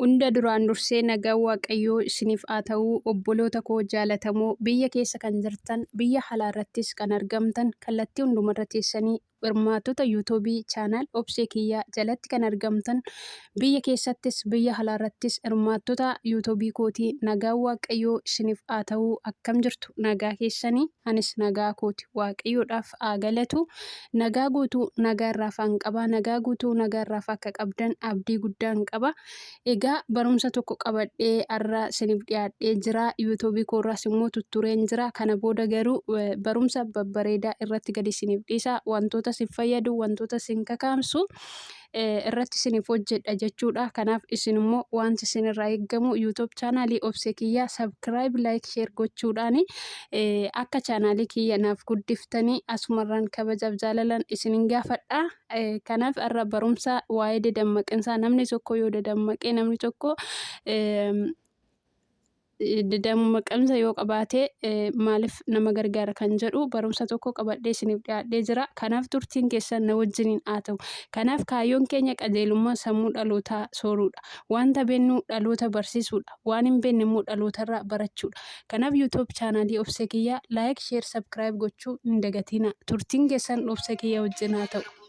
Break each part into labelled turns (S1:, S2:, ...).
S1: Hunda duraan dursee nagaan waaqayyoo isiniif haa ta'uu obboloota koo jaalatamoo biyya keessa kan jirtan biyya halaa irrattis kan argamtan kallattii hundumarra teessanii hirmaattota YouTube channel obsee kiyyaa jalatti kan argamtan biyya keessattis biyya halaa irrattis hirmaattota YouTube kootii nagaan waaqayyoo isiniif haa ta'uu akkam jirtu nagaa keessanii anis nagaa kooti waaqayyoodhaaf siif haa galatu. Nagaa guutuu nagaa irraa faan qaba. Nagaa guutuu nagaa irraa akka qabdan abdii guddaan qaba. Egaa barumsa tokko qabadhee har'a siniif dhiyaadhee jira. Yuutuubii koorraas immoo tuttureen jira. Kana booda garuu eh, barumsa babbareedaa irratti gadi siniif dhiisa. Wantoota sin fayyadu, wantoota sin kakaamsu irratti isiniif hojjedha jechuudha. Kanaaf isin immoo wanti isin irraa eegamu YouTube chaanaalii obsee kiyyaa subscribe like share gochuudhaan akka chaanaalii kiyya naaf guddiftanii asumarraan kabajaaf jaalalan isinin gaafadha. Kanaaf irra barumsa waa'ee dadammaqinsaa namni tokko yoo dadammaqee namni tokko Dammaqinsa yoo qabaate maaliif nama gargaara kan jedhu barumsa tokko qabadhee isiniif dhiyaadhee jira. Kanaaf turtiin keessan na wajjiniin haa ta'u. Kanaaf kaayyoon keenya qajeelummaa sammuu dhalootaa sooruudha. Wanta beennu dhaloota barsiisuudha. Waan hin beenne immoo dhalootarraa barachuudha. Kanaaf YouTube chaanaalii Obsee Kiyyaa like, share, subscribe gochuu hin dagatinaa. Turtiin keessan Obsee Kiyyaa wajjin haa ta'u.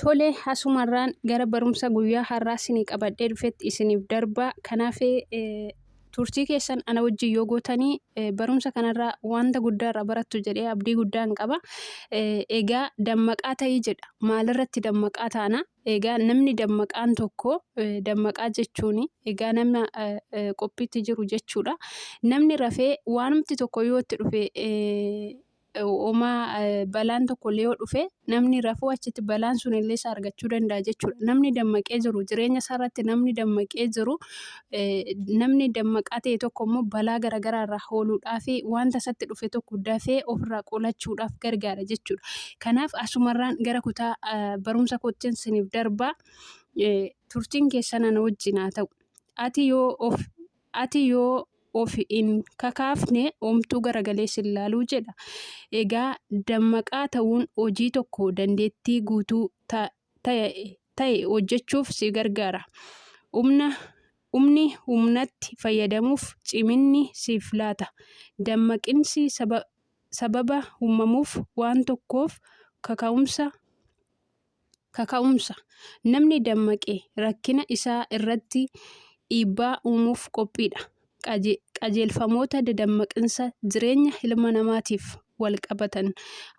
S1: Tole, asumarraan gara barumsa guyyaa har'aa isinii qabadhee dhufetti isiniif darbaa. Kan hafe turtii keessan ana wajjin yoo gootanii barumsa kanarraa wanta guddaa irraa barattu jedhee abdii guddaan qaba. Egaa dammaqaa ta'ii jedha. Maalirratti dammaqaa taana? Egaa namni dammaqaan tokko dammaqaa jechuun egaa nama qophiitti jiru jechuudha. Namni rafee waanumti tokko yoo itti dhufe Homaa balaan tokkollee yoo dhufe namni rafuu achitti balaan sun illee isa argachuu danda'a jechuudha. Namni dammaqee jiru jireenya isaa irratti namni dammaqee jiru namni dammaqaa ta'e tokko immoo balaa garaagaraa irraa hooluudhaa fi wanta isatti dhufe tokko dafee ofirraa qolachuudhaaf gargaara jechuudha. Kanaaf asumarraan gara kutaa barumsa koottiin siniif darbaa turtiin keessan ana wajjin haa ta'u. Ati yoo of Ati yoo of hin kakaafne omtuu garagalee sin laaluu jedha. Egaa dammaqaa ta'uun hojii tokko dandeettii guutuu ta, ta, ta'e hojjechuuf si gargaara. Humna, humni humnatti fayyadamuuf ciminni siif laata. Dammaqinsi saba, sababa uumamuuf waan tokkoof kaka'umsa Kaka'umsa, Namni dammaqe rakkina isaa irratti dhiibbaa uumuuf qophiidha. Qajeelfamoota dadammaqinsa jireenya ilma namaatiif wal qabatan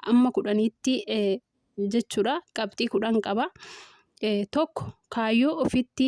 S1: amma kudhanitti jechuudha. Qabxii kudhan qaba. Tokko kaayyoo ofitti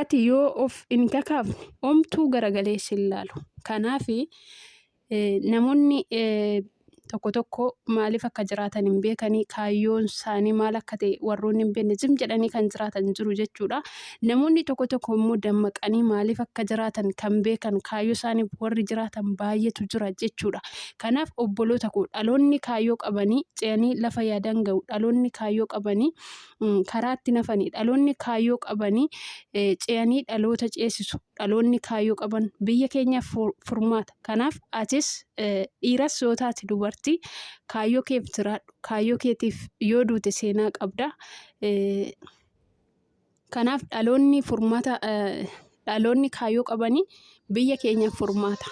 S1: Ati yoo of hin kakaafne omtuu garagalee sin laalu. Kanaaf namoonni tokko tokko maaliif akka jiraatan hin beekanii kaayyoon isaanii maal akka ta'e warroonni hin beekne zim jedhanii kan jiraatan jiru jechuudha. Namoonni tokko tokko immoo dammaqanii maaliif akka jiraatan kan beekan kaayyoo isaaniif warri jiraatan baay'eetu jira jechuudha. Kanaaf obboloota koo dhaloonni kaayyoo qabanii ce'anii lafa yaadan ga'u dhaloonni kaayyoo qabanii karaatti nafani dhaloonni kaayyoo qabanii ce'anii dhaloota ceesisu dhaloonni kaayyoo qaban biyya keenyaaf furmaata kanaaf atis dhiiras yoo taate dubartii kaayyoo keef jiraadhu kaayyoo keetiif yoo duute seenaa qabda kanaaf dhaloonni furmaata dhaloonni kaayyoo qabanii biyya keenyaaf furmaata.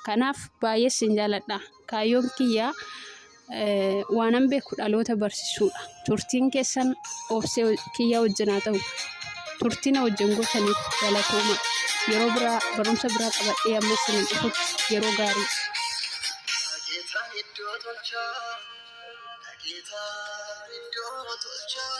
S1: Kanaaf baay'ee sin jaaladha. Kaayyoon kiyyaa waanan beeku dhaloota barsiisuudha. Turtiin keessan obsee kiyyaa wajjin haa ta'u. Turtiin wajjin gootaniif galatooma. Yeroo biraa barumsa biraa qabadhee amma sin dhufutti yeroo gaarii. Dhageetaa
S2: iddoo tolchaa, dhageetaa iddoo tolchaa.